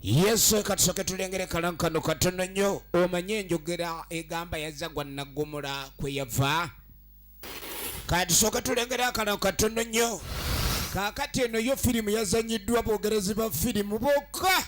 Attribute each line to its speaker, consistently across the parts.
Speaker 1: yesu katusoke tulengere kalangu kano katono nnyo omanye enjogera egamba yazza gwa naggomola kwe yava katusooke tulengere akalangu katono nnyo kaakati eno yo firimu yazanyiddwa boogerezi ba firimu bokka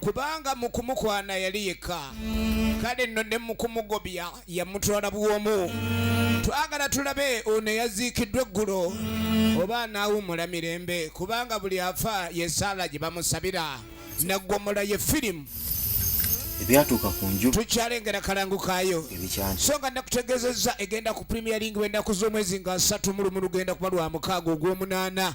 Speaker 1: kubanga mu kumukwana yali yekka kale nno ne mu kumugobya yamutwala bwomu twagala tulabe ono eyaziikiddwa eggulo oba anaawumula mirembe kubanga buli afa yesaala gye bamusabira naggwomola ye firimu
Speaker 2: ebyatuuka ku nju tukyalengera kalangu
Speaker 1: kaayo so nga
Speaker 2: nakutegezezza
Speaker 1: egenda ku premier league bwendaku z'omwezi nga asatu mulumu lugenda kuba lwa mukaaga ogw'omunaana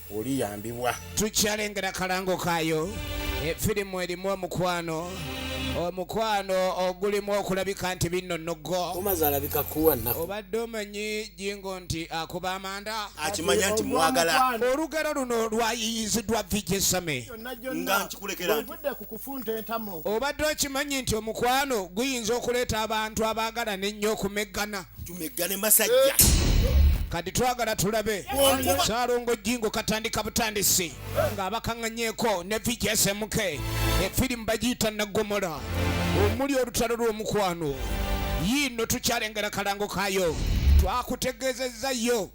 Speaker 2: oliyambibwa. Tukyalengera
Speaker 1: kalango kaayo efirimu erimu omukwano omukwano ogulimu okulabika nti binno noggo omaze alabika kuwa
Speaker 3: nnaku obadde omanyi
Speaker 1: jingo nti akuba amanda akimanya nti mwagala
Speaker 2: olugero luno
Speaker 1: lwayiyiziddwa vijesame nga nkikulekera
Speaker 2: nti
Speaker 1: obadde okimanyi nti omukwano guyinza okuleeta abantu abaagalana ennyo okumeggana tumeggane
Speaker 2: masajja kati
Speaker 1: twagala tulabe salongo jingo katandika butandisi ng'abakaŋŋanyeeko ne vjsmk efirimu bagiyita nagomola omuli olutalo lw'omukwano yiino tukyalengera kalango kayo twakutegeezezza yo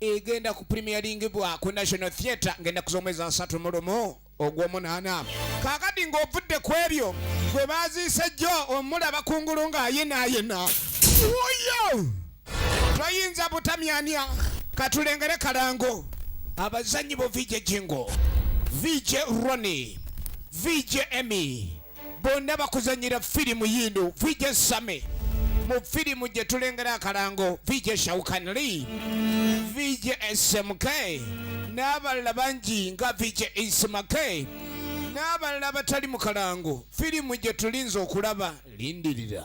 Speaker 1: egenda ku premieringibwa ku national theatre ng'ennaku z'omwezi asatu mulumu ogw'omunaana kaakati ng'ovudde ku ebyo gwe baaziise jjo omulaba kungulu ng'ayinaayina wuyo toyinza butamyanya katulengere kalango abazannyi bo vije jingo vije roni vije emi bonna bakuzanyira firimu yiino vije same mu firimu gye tulengera akalango vije shaukanli vije smk n'abalala bangi nga vije ismak n'abalala abatali mu kalango firimu gye tulinze okulaba lindirira